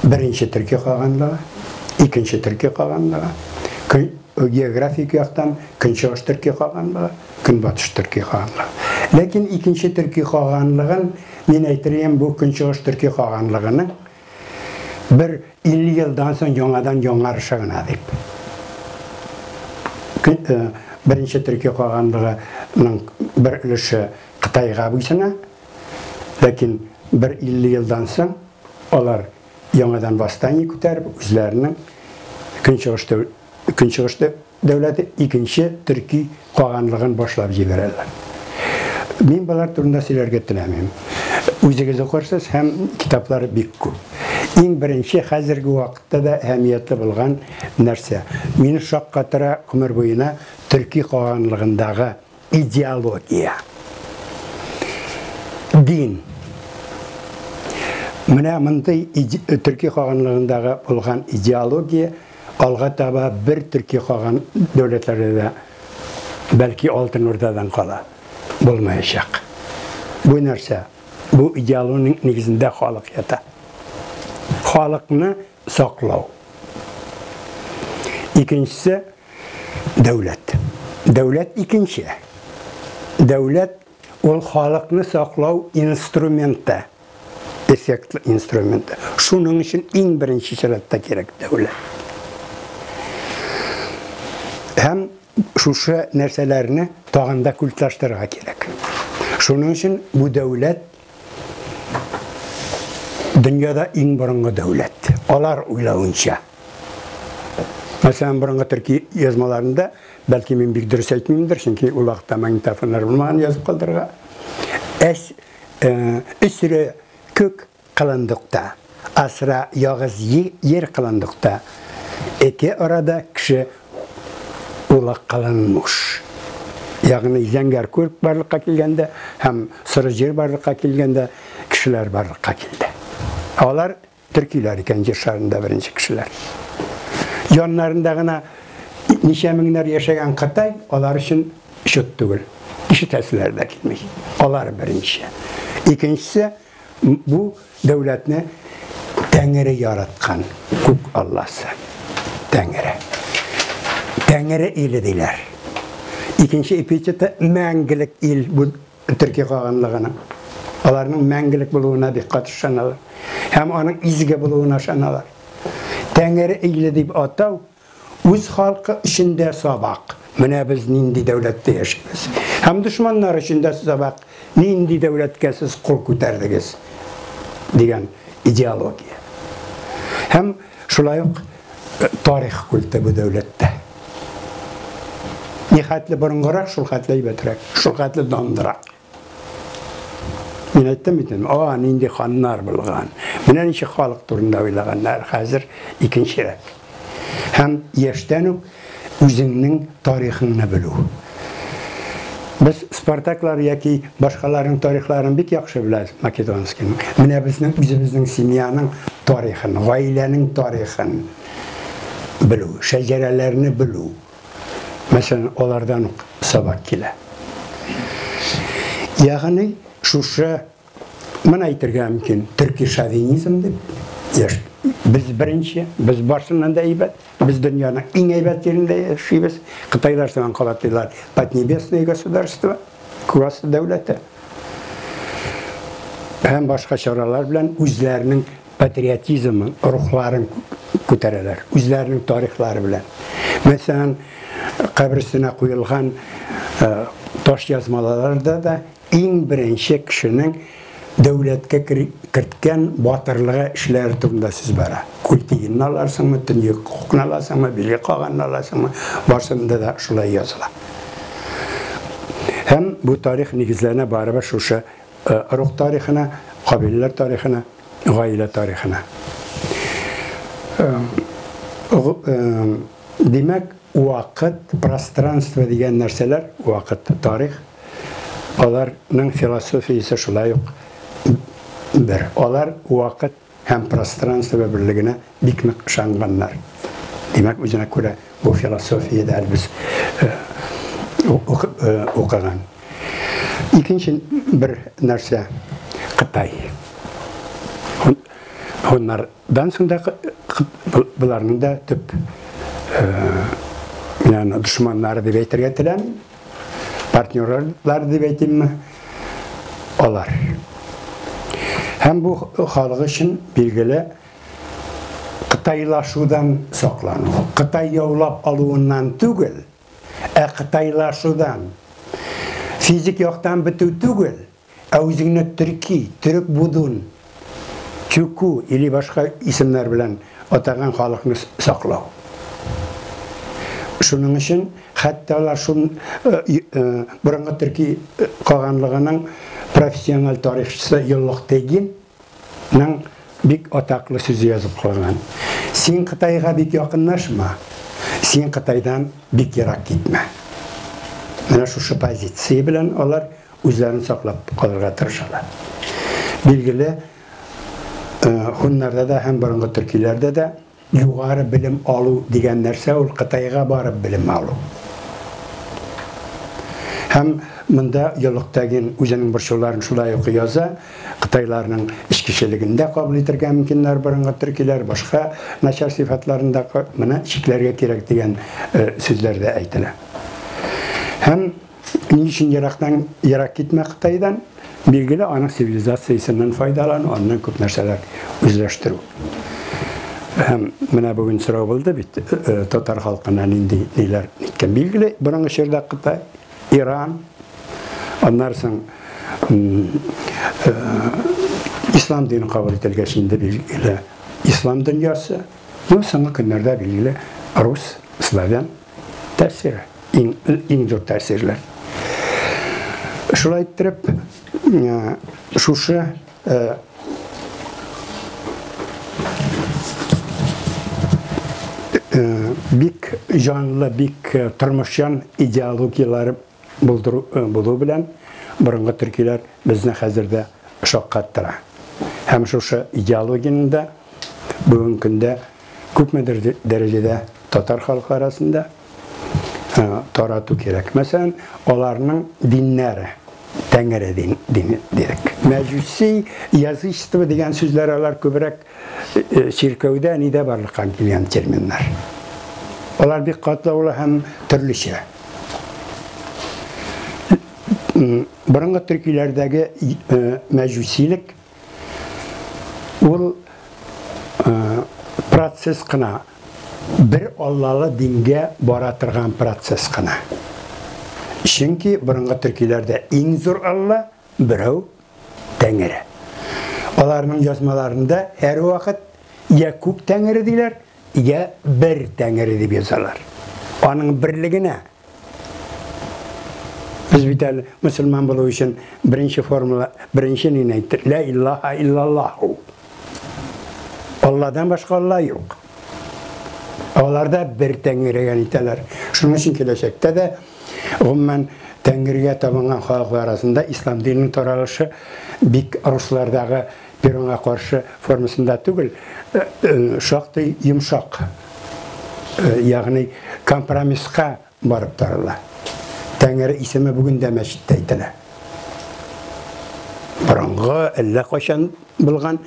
S1: беренче төрки каганлыгы, икенче төрки каганлыгы, кө географик яктан Көнчыгыш төрки каганлыгы, Көнбатыш төрки хаганлыгы. Ләкин икенче төрки хаганлыгын мин әйтер идем, бу Көнчыгыш төрки хаганлыгының бер 50 елдан соң яңадан яңарышы гына дип. Э, беренче төрки хаганлыгының бер өлеше Кытайга буйсына, ләкин бер 50 елдан соң алар яңадан восстание күтәреп, үзләренең Көнчыгышта Көнчыгышта дәүләте икенче төрки каганлыгын башлап җибәрәләр. Мин болар турында сөйләргә теләмим. Үзегез укырсыз һәм китаплары бик күп. Иң беренче хәзерге вакытта да әһәмиятле булган нәрсә, мине шаккатыра гомер буена төрки каганлыгындагы Идеология. Дин. Менә мондый төрки хаганлыгындагы булган идеология алга таба бер төрки хаган дәүләтләрдә дә бәлки алтын урдадан кала булмаячак. Бу нәрсә? Бу идеологиянең нигезендә халык ята. Халыкны саклау. Икенчесе, дәүләт. Дәүләт икенче. Дәүләт ул халыкны саклау инструменты, эффектлы инструменты. Шуның өчен иң беренче чиратта кирәк дәүләт. Һәм шушы нәрсәләрне тагында да культаштырырга кирәк. Шуның өчен бу дәүләт дөньяда иң борынгы дәүләт. Алар уйлавынча. Мәсәлән, борынгы төрки язмаларында, бәлки мин бик дөрес әйтмимдер, чөнки ул вакытта магнитофоннар булмаган язып калдырырга. Әс э, өсре күк кылындыкта, асра ягыз җир кылындыкта. Эке арада кеше ул ак каланың муш. Ягъни зәңгәр күрк барлыкка килгәндә һәм соры җир барлыкка килгәндә кешеләр барлыкка килде. Алар төркиләр икән җир шарында беренче кешеләр. Яннарында гына ничә меңнәр яшәгән Кытай алар өчен чут түгел. Ишетәселәр дә килми. Алар беренче. Икенчесе Бу дәүләтне Тәңре яраткан, күк Алласы. Тәңре. Тәңре иле диләр. Икенче эпитеты мәңгелек ил бу төрки каганлыгының. Аларның мәңгелек булуына бик каты ышаналар. Һәм аның изге булуына ышаналар. Тәңре иле дип атау Үз халкы өчен дә сабак, менә без нинди дәүләттә яшибез. Һәм дошманнар өчен дә сабак, нинди дәүләткә сез кул күтәрдегез, дигән идеология. Һәм шулай ук э, тарих культы бу дәүләттә. Нихәтле борынгырак, шул хәтле әйбәтрәк, шул хәтле дандырак. Мин әйттем бит, а, нинди ханнар булган. Менә ничек халык турында уйлаганнар хәзер икенчерәк. Һәм яшьтән үк үзеңнең тарихыңны белү. Без Спартаклар яки башкаларның тарихларын бик яхшы беләбез Македонскийның. Менә безнең үзебезнең семьяның тарихын, гаиләнең тарихын белү, шәҗәрәләрне белү. Мәсәлән, алардан ук сабак килә. Ягъни, шушы менә әйтергә мөмкин, төрки шовинизм дип, яш, без беренче, без барсыннан да әйбәт, без дөньяның иң әйбәт җирендә яшибез. Кытайлар сыман кала диләр, поднебесное государство, күк асты дәүләте. Һәм башка чаралар белән үзләренең патриотизмын, рухларын күтәрәләр, үзләренең тарихлары белән. Мәсәлән, каберсенә куелган э, таш язмаларда да иң беренче кешенең дәүләткә керткән батырлыгы эшләре турында сүз бара. Культигинны аларсыңмы, төньяк хукны аласыңмы, биле каганны аласыңмы, барсында да шулай языла. Һәм бу тарих нигезләренә барыбер шушы Рух тарихына, кабиләләр тарихына, гаилә тарихына. Димәк, вакыт, пространство дигән нәрсәләр, вакыт, тарих, аларның философиясе шулай ук бер. Алар вакыт һәм пространство берлегенә бик нык ышанганнар. Димәк, үзенә күрә бу философия дә без укыган. Икенче бер нәрсә Кытай. Һуннардан соң да боларның да төп дошманнары дип әйтергә теләмим. партнерлар дип әйтимме, алар. Һәм бу халык өчен билгеле Кытайлашудан саклану. Кытай яулап алуыннан түгел, ә кытайлашудан. Физик яктан бетү түгел, Ә үзеңне төрки, төрек будун, чуку или башка исемнәр белән атаган халыкны саклау. Шуның өчен хәтта алар шул борынгы төрки каганлыгының профессиональ тарихчысы Йоллык Тегин Ның бик атаклы сүзе язып калган. Син Кытайга бик якынлашма, син Кытайдан бик ерак китмә. Менә шушы позиция белән алар үзләрен саклап калырга тырышалар. Билгеле, э, хуннарда да һәм борынгы төркиләрдә дә Югары белем алу дигән нәрсә ул Кытайга барып белем алу. Һәм монда Йолыктагин үзенең борчуларын шулай ук яза, кытайларның эчкечелеген дә кабул итергә мөмкиннәр борынгы төркиләр, башка начар сыйфатларын да моны чикләргә кирәк дигән сүзләр дә әйтелә. Һәм Ни өчен ерактан ерак китмә Кытайдан? Билгеле, аның цивилизациясеннән файдалану, аннан күп нәрсәләр үзләштерү. Һәм менә бүген сорау булды бит, э, э, татар халкына нинди ниләр иткән. Билгеле, борынгы чорда Кытай, Иран, аннары соң э, ислам динен кабул ителгәч инде билгеле ислам дөньясы, ну соңгы көннәрдә билгеле рус, славян Тәэсир, иң, иң зур тәэсирләр. Шулай иттереп, э, шушы э, э, бик җанлы, бик э, тормышчан идеологияләр булдыру э, булу белән борынгы төркиләр безне хәзер дә шаккаттыра. Һәм шушы идеологиянең дә Бүгенге көндә күпмедер дәрәҗәдә татар халкы арасында тарату кирәк. Мәсәлән, аларның диннәре, Тәңре дин, дин дирек. Мәҗүси язычество дигән сүзләр алар күбрәк чиркәүдә, нидә барлыкка килгән терминнар. Алар бик катлаулы һәм төрлечә. Борынгы төркиләрдәге мәҗүсилек Ул процесс кына бер Аллалы дингә бара торган процесс кына. Чөнки борынгы төркиләрдә иң зур Алла берәү Тәңре. Аларның язмаларында һәрвакыт я күп Тәңре диләр, я бер Тәңре дип язалар. Аның берлегенә Без бит әле мусульман булу өчен беренче формула, беренче нине әйттек? Ла иллаха иллаллаху. Алладан башка Алла юк. Алар да бер тәңгергә итәләр. Шуның өчен киләчәктә дә гомумән тәңгергә табынган халыклар арасында ислам диненең таралышы бик руслардагы Перуңа каршы формасында түгел, шактый йомшак, ягъни компромисска барып тарыла. Тәңре исеме бүген дә мәчеттә әйтелә. Борынгы, әллә кайчан булган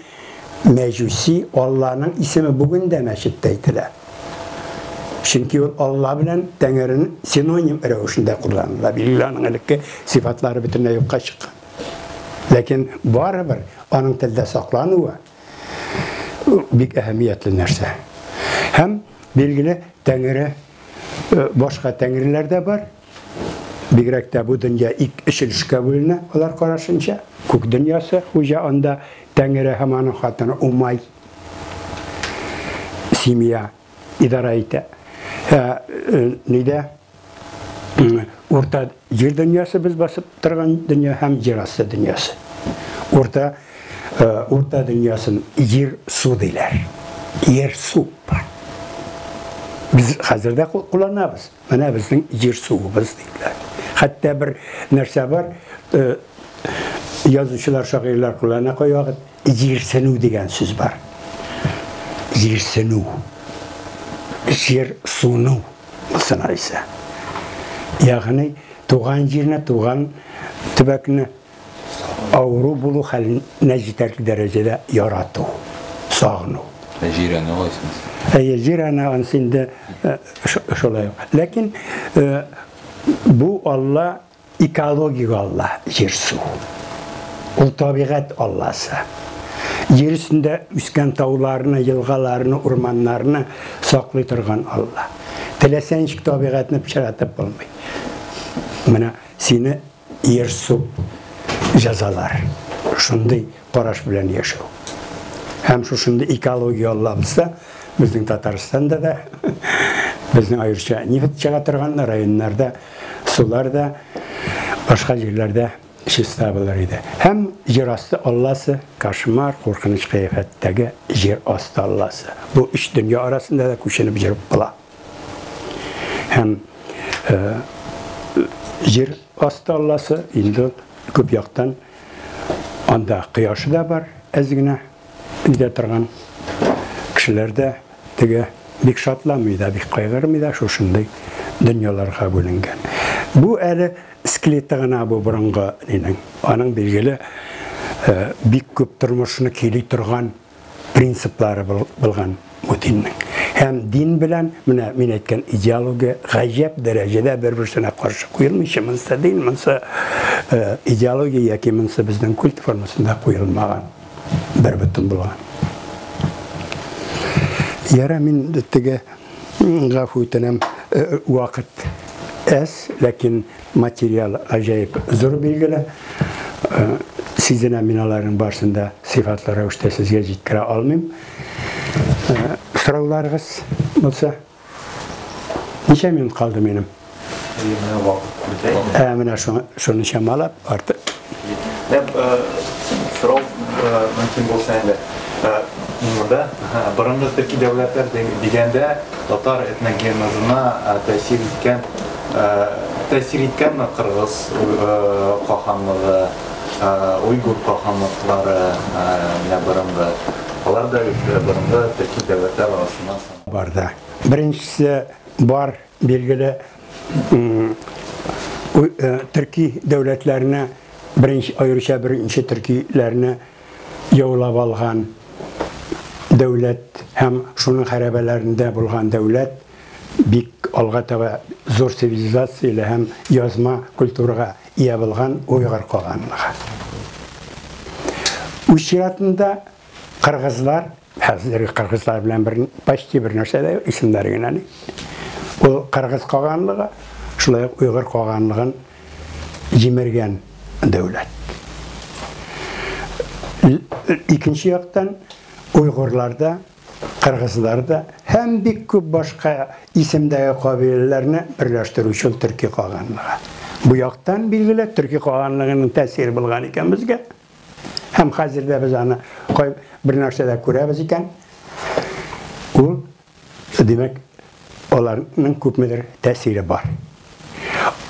S1: мәҗүси Алланың исеме бүген дә мәчеттә әйтелә. Чөнки ул Алла белән Тәңренең синоним рәвешендә кулланыла. Билләһнең элекке сыйфатлары бөтенләй юкка чыккан. Ләкин барыбер аның телдә саклануы бик әһәмиятле нәрсә. Һәм билгеле Тәңре э, башка тәңреләр дә бар. Бигрәк тә бу дөнья ик эчелешкә бүленә, алар карашынча. Күк дөньясы хуҗа анда Тәңре һәм аның хатыны Умай семья идарә итә. Ә, э, нидә Урта җир дөньясы без басып торган дөнья һәм җир асты дөньясы. Урта э, урта дөньясын җир су диләр. Җир су бар. Без хәзер дә кулланабыз. Менә безнең җир суыбыз диләр. Хәтта бер нәрсә бар, э, язучылар, шагыйрьләр куллана кайвакыт Җирсенү дигән сүз бар. Җирсенү. Җир суну булсынар исә. Ягъни туган җирне, туган төбәкне авыру булу хәленә җитәрлек дәрәҗәдә ярату, сагыну. Ә җирәнү
S3: кайсынысы? Әйе, җирәнү
S1: ансы инде э, ш- шулай ук. Ләкин э, бу Алла Экологик алла, җир-су. Ул табигать алласы. Җир өстендә үскән тауларны, елгаларны, урманнарны саклый торган алла. Теләсә ничек табигатьне пычратып булмый. Менә сине җир-су җәзалар. Шундый караш белән яшәү. Һәм шушында экология аллабызда, безнең Татарстанда да, безнең аеруча нефть чыга торган районнарда, сулар да, башка җирләрдә чиста булыр иде. Һәм җир асты алласы, кошмар, куркыныч кыяфәттәге җир асты алласы. Бу өч дөнья арасында да күченеп җөреп була. Һәм э, җир асты алласы инде күп яктан Анда кояшы да бар, әз генә үтә торган. Кешеләр дә теге бик шатламый да, бик кайгырмый да, шушындый дөньяларга бүленгән. Бу әле скелеты гына бу борынгы нинең. Аның билгеле э, бик күп тормышны кили торган принциплары булган бу диннең. Һәм дин белән, менә мин әйткән идеология гаҗәп дәрәҗәдә бер-берсенә каршы куелмыйча, монсы дин, монсы э, идеология яки монсы безнең культ формасында куелмаган, бер бөтен булган. Яра мин теге гафу үтенәм, э, вакыт әз, ләкин Материал гаҗәеп зур билгеле. Сизенәм мин аларның барысын да сыйфатлы рәвештә сезгә җиткерә алмыйм. Сорауларыгыз булса. Ничә минут калды минем? Ә менә шуны чамалап, артык Ә
S6: сорау мөмкин булса әле. Монда борынгы дәүләтләр дигәндә татар этногенезына тәэсир иткән тәэсир иткәнме кыргыз каханлыгы, уйгур каханлыклары менә борынгы. Алар да бит борынгы төрки дәүләтләр арасыннан санала. Бар да.
S1: Беренчесе бар. Билгеле, төрки дәүләтләрне, беренче, аеруча беренче төркиләрне яулап алган дәүләт һәм шуның хәрәбәләрендә булган дәүләт бик алга таба зур цивилизацияле һәм язма культурага ия булган уйгыр каганлыгы. Үз чиратында кыргызлар Хәзерге кыргызлар белән бер почти бер нәрсә дә исемнәре генә ни. Ул кыргыз каганлыгы, шулай ук уйгыр каганлыгын җимергән дәүләт. Икенче яктан уйгырларда, кыргызларда һәм бик күп башка исемдәге кабиләләрне берләштерүче төрки каганлыгы. Бу яктан билгеле, төрки каганлыгының тәэсире булган икән безгә. Һәм хәзер дә без аны кай бер нәрсәдә күрәбез икән, ул, димәк, аларның күпмедер тәэсире бар.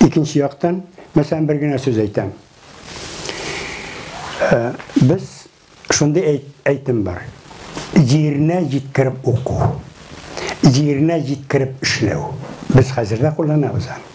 S1: Икенче яктан, мәсәлән, бер генә сүз әйтәм. Э, без шундый әйтем бар. Җиренә җиткереп уку, җиренә җиткереп эшләү. Без хәзер дә кулланабыз аны.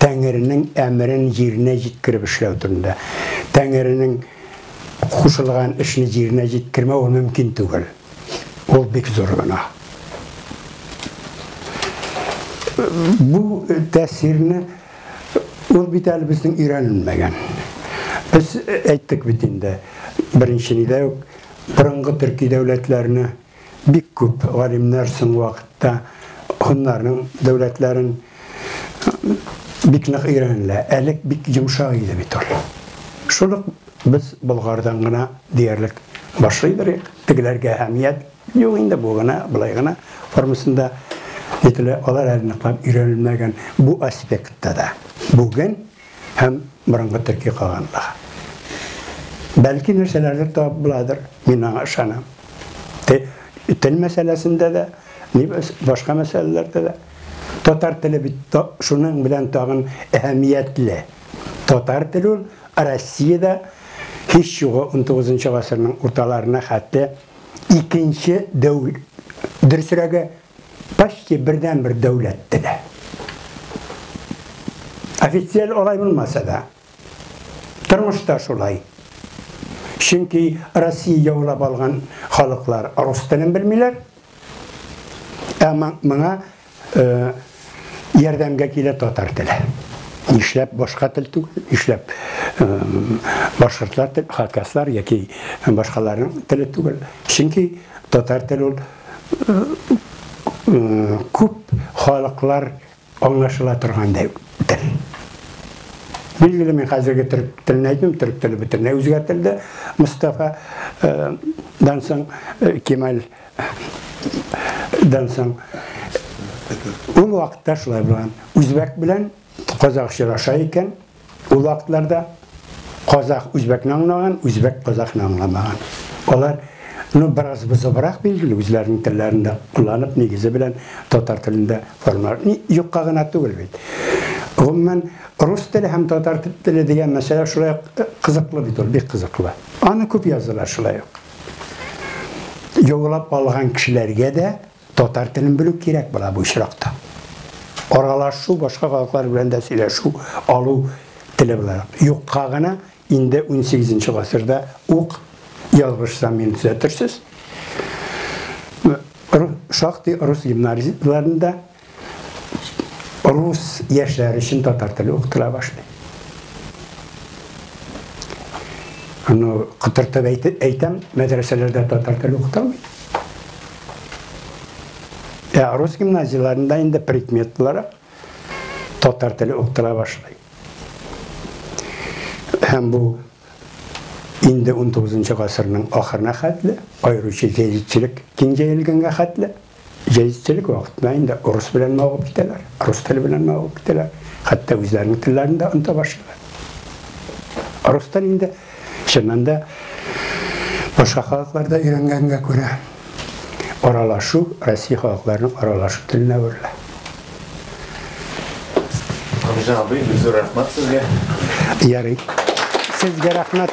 S1: Тәңренең әмерен җиренә җиткереп эшләү турында. Тәңренең кушылган эшне җиренә җиткермәү ул мөмкин түгел. Ул бик зур гөнаһ. Бу тәэсирне ул бит әле безнең өйрәнелмәгән. Без әйттек бит инде, беренче нидә үк борынгы төрки дәүләтләрне Бик күп галимнәр соңгы вакытта һуннарның дәүләтләрен бик нык өйрәнелә. Әлек бик йомшак иде бит ул. Шул ук без Болгардан гына диярлек башлый берик. Тегеләргә әһәмият юк инде, бу гына, былай гына формасында әйтелә. Алар әле ныклап өйрәнелмәгән бу аспектта да. Бүген һәм борынгы төрки калганлыгы. Бәлки нәрсәләрдер табып буладыр, мин аңа ышанам. Тел мәсьәләсендә дә, башка мәсьәләләрдә дә. Татар теле бит шуның белән тагын әһәмиятле. Татар теле ул Россиядә һич югы 19 гасырның урталарына хәтле икенче дәү, дөресрәге, почти бердәнбер дәүләт теле. Официаль алай булмаса да, тормышта шулай. Чөнки Россия яулап алган халыклар рус телен белмиләр. Ә моңа э, ярдәмгә килә татар теле. Нишләп башка тел түгел, нишләп э, башкортлар тел, хакаслар яки башкаларның теле түгел. Чөнки татар теле ул күп халыклар аңлашыла торган дәү тел. Билгеле мин хәзерге төрк телен әйтмим, төрк теле бөтенләй үзгәртелде. Мустафа э, дан соң э, Кемаль дан соң ул вакытта шулай булган. Үзбәк белән казак очраша икән, Ул вакытларда казах үзбәкне аңлаган, үзбәк казахны аңламаган. Алар ну бераз бозыбрак билгеле үзләренең телләрендә кулланып нигезе белән татар телендә формалар. Ни юкка гына түгел бит. Гомумән рус теле һәм татар теле дигән мәсьәлә шулай э, кызыклы бит ул, бик кызыклы. Аны күп язалар шулай ук. Юллап алган кешеләргә дә Татар телен белү кирәк була бу очракта. Аралашу, башка халыклар белән дә сөйләшү, алу теле буларак. Юкка гына инде унсигез нче гасырда ук, ялгышсам мине төзәтерсез, шактый рус гимназияләрендә рус яшьләр өчен татар теле укытыла башлый. Аны котыртып әйтәм, мәдрәсәләрдә татар теле укытылмый. Ә рус гимназияләрендә инде предмет буларак татар теле укытыла башлый. Һәм бу инде 19 гасырның ахырына хәтле, аеруча җәдитчелек киң җәелгәнгә хәтле, җәдитчелек вакытында инде урыс белән мавыгып китәләр, рус теле белән мавыгып китәләр, хәтта үзләренең телләрен дә оныта башлыйлар. Рус теле инде Чыннан да, башка халыкларда өйрәнгәнгә күрә, аралашу Россия халыкларының аралашу теленә әверелә.
S6: Гамза абый, бик
S1: рәхмәт
S6: сезгә.
S1: Ярый.
S6: Сезгә рәхмәт.